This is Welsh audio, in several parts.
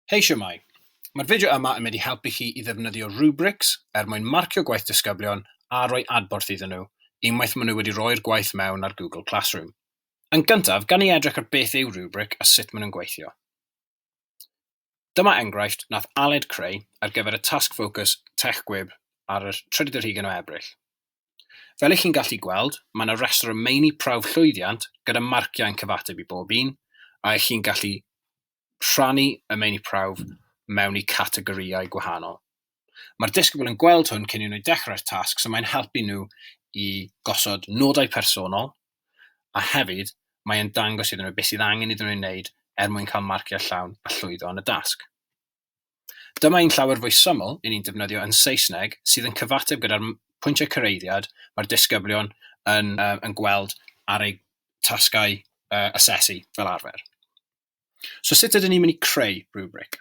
Hei siwmai! Mae'r fideo yma yn mynd i helpu chi i ddefnyddio rubrics er mwyn marcio gwaith disgyblion a rhoi adborth iddyn nhw unwaith maen nhw wedi rhoi'r gwaith mewn ar Google Classroom. Yn gyntaf, gan i edrych ar beth yw rubric a sut maen nhw'n gweithio. Dyma enghraifft nath Aled creu ar gyfer y Tasg Ffocws Tech Gwib ar y 31 o Ebrill. Fel y'ch chi'n gallu gweld, mae yna restr o meini prawf llwyddiant gyda marciau yn cyfateb i bob un, a y'ch chi'n gallu rhannu y meini prawf mewn i categorïau gwahanol. Mae'r disgybl yn gweld hwn cyn i nhw dechrau'r tasg, so mae'n helpu nhw i gosod nodau personol, a hefyd mae e'n dangos iddyn nhw beth sydd angen iddyn nhw ei wneud er mwyn cael marciau llawn a llwyddo yn y dasg. Dyma un llawer fwy syml i ni'n defnyddio yn Saesneg sydd yn cyfateb gyda'r pwyntiau cyreiddiad mae'r disgyblion yn, yn gweld ar eu tasgau asesu fel arfer. So sut ydyn ni'n mynd i creu rhywbric?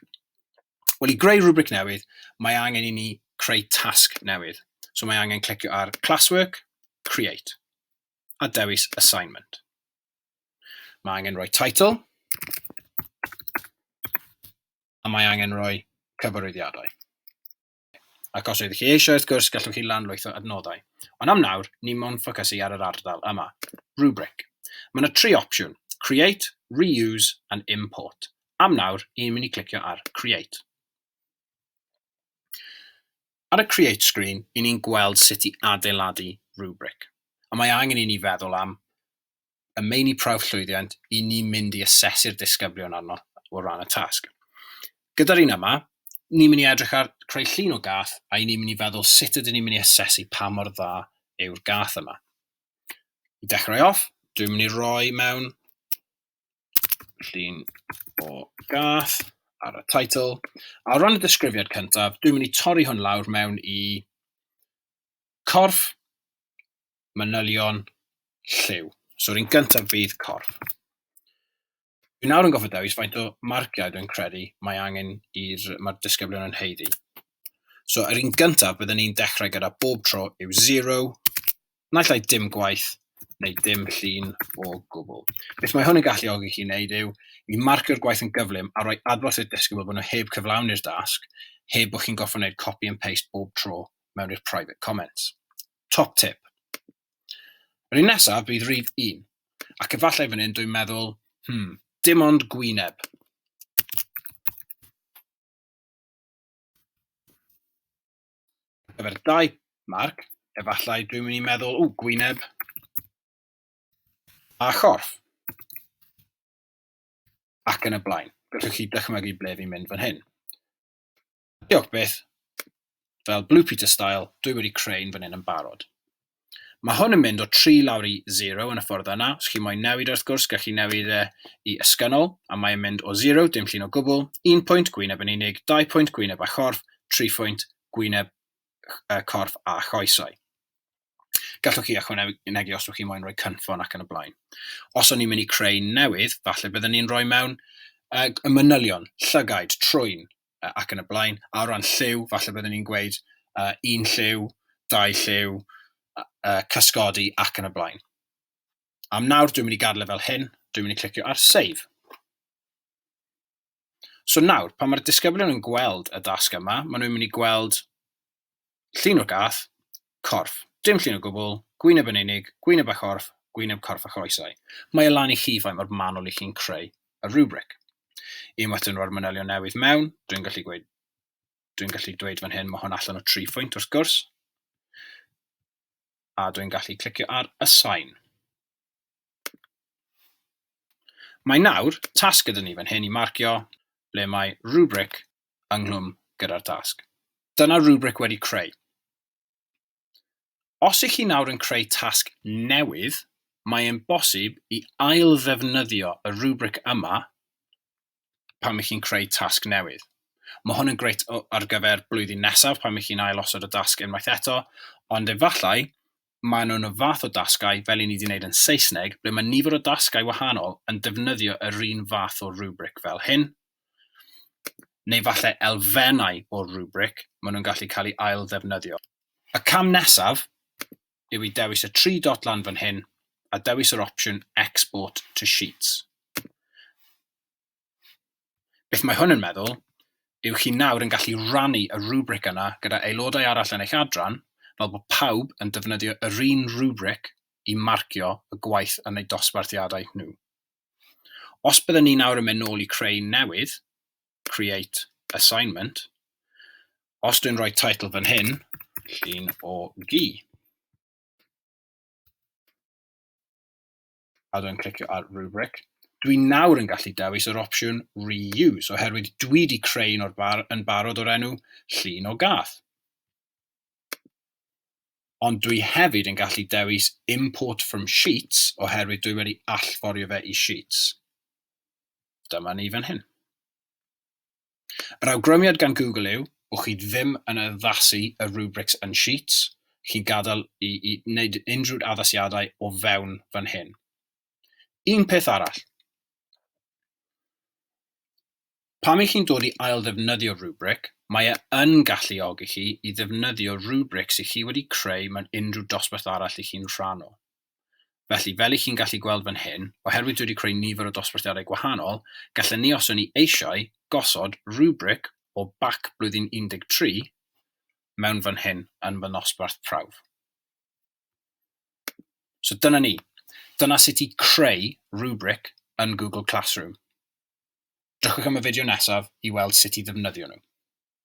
Wel, i greu rhywbric newydd, mae angen i ni creu tasg newydd. So mae angen clicio ar Classwork, Create, a dewis Assignment. Mae angen rhoi title, a mae angen rhoi cyfarwyddiadau. Ac os ydych chi eisiau wrth gwrs gallwch chi lawrlwytho adnoddau. Ond am nawr, ni mown ffocysu ar yr ardal yma. Rubric. Mae yna tri opsiwn, Create, Reuse and Import. Am nawr, i'n mynd i clicio ar Create. Ar y Create screen, i ni'n gweld sut i adeiladu rubric. A mae angen i ni feddwl am y meini prawf llwyddiant i ni mynd i asesu'r disgyblion arno o ran y tasg. Gyda'r un yma, ni'n mynd i edrych ar creu llun o gath a i ni'n mynd i feddwl sut ydyn ni'n mynd i asesu pa mor dda yw'r gath yma. I dechrau off, dwi'n mynd i roi mewn llun o gath ar y title. A o ran y disgrifiad cyntaf, dwi'n mynd i torri hwn lawr mewn i corff manylion lliw. So, yr un gyntaf fydd corff. Fi nawr yn gofio dewis faint o marciau dwi'n credu mae angen i'r mae'r disgyblion yn heiddi. So, yr un gyntaf byddwn ni'n dechrau gyda bob tro yw 0, naill ai dim gwaith neu dim llun o gwbl. Beth mae hwn yn galluogi chi wneud yw i marcio'r gwaith yn gyflym a rhoi adborth i'r disgybl bod nhw heb cyflawni'r dasg, heb bod chi'n gorfod gwneud copy and paste bob tro mewn i'r private comments. Top tip. Yr un nesaf bydd rif un, ac efallai fan hyn dwi'n meddwl, hmm, dim ond gwyneb. gyfer dau marc, efallai dwi'n mynd i meddwl, ww, gwyneb a chorff. Ac yn y blaen. Gallwch chi dychmygu ble fi'n mynd fan hyn. Diolch byth. Fel Blue Peter style, dwi wedi creu un fan hyn yn barod. Mae hwn yn mynd o 3 lawr i 0 yn y ffordd yna, os chi moyn newid wrth gwrs gallwch chi newid e i ysgynnol, a mae e'n mynd o 0, dim llun o gwbl, 1 pwynt, gwyneb yn unig, 2 pwynt, gwyneb a chorff, 3 phwynt, gwyneb, corff a choesau. Gallwch chi ychwanegu os ydych chi'n moyn rhoi cynffon ac yn y blaen. Os o'n i'n mynd i creu newydd, falle byddwn ni'n rhoi mewn uh, y manylion, llygaid, trwyn uh, ac yn y blaen. A o ran lliw, falle byddwn ni'n gweud uh, un lliw, dau lliw, uh, cysgodi ac yn y blaen. Am nawr, dwi'n mynd i gadael e fel hyn, dwi'n mynd i clicio ar Save. So nawr, pan mae'r disgyblion yn gweld y dasg yma, maen nhw'n mynd i gweld llun o'r gath, corff. Dim llun o gwbl, gwyneb yn unig, gwyneb a chorff, gwyneb, corff a choesau. Mae e lan i chi faint mor manwl i chi'n creu y rubric. Unwaith dyn nhw'r manylion newydd mewn, dwi'n gallu gweud, dwi'n gallu dweud fan hyn, mae hwn allan o tri phwynt wrth gwrs, a dwi'n gallu clicio ar assign. Mae nawr tasg gyda ni fan hyn i marcio ble mae rubric ynghlwm gyda'r tasg. Dyna rubric wedi creu. Os ych chi nawr yn creu tasg newydd, mae e'n bosib i ail-ddefnyddio y rubric yma pan ych chi'n creu tasg newydd. Mae hwn yn greit ar gyfer blwyddyn nesaf pan ych chi'n ailosod y dasg unwaith eto, ond efallai maen nhw'n y fath o dasgau, fel i ni wedi wneud yn Saesneg, ble mae nifer o dasgau wahanol yn defnyddio yr un fath o rubric fel hyn, neu falle elfennau o'r rubric, maen nhw'n gallu cael eu ail-ddefnyddio. Y cam nesaf yw i dewis y tri dot lan fan hyn a dewis yr opsiwn Export to Sheets. Beth mae hwn yn meddwl yw chi nawr yn gallu rannu y rubric yna gyda aelodau arall yn eich adran, fel bod pawb yn defnyddio yr un rubric i marcio y gwaith yn eu dosbarthiadau nhw. Os byddwn ni nawr yn mynd nôl i creu newydd, create assignment, os dwi'n rhoi title fan hyn, llun o gi. A dwi'n clicio ar rubric. Dwi nawr yn gallu dewis yr opsiwn reuse, oherwydd dwi wedi creu un o'r bar yn barod o'r enw llun o gath. Ond dwi hefyd yn gallu dewis import from sheets, oherwydd dwi wedi allforio fe i sheets. Dyma ni fan hyn. Yr awgrymiad gan Google yw, wch chi ddim yn addasu y rubrics yn Sheets, chi'n gadael i, i wneud unrhyw addasiadau o fewn fan hyn. Un peth arall. Pam i chi'n dod i ail ddefnyddio rubric, mae e yn galluogi chi i ddefnyddio rubrics i chi wedi creu mewn unrhyw dosbarth arall i chi'n rhan o. Felly, fel i chi'n gallu gweld fan hyn, oherwydd dwi wedi creu nifer o dosbarthiadau gwahanol, gallen ni os o'n ni eisiau, gosod rubric o bac blwyddyn 13 mewn fan hyn yn fy nosbarth prawf. So dyna ni. Dyna sut i creu rubric yn Google Classroom. Drychwch am y fideo nesaf i weld sut i ddefnyddio nhw.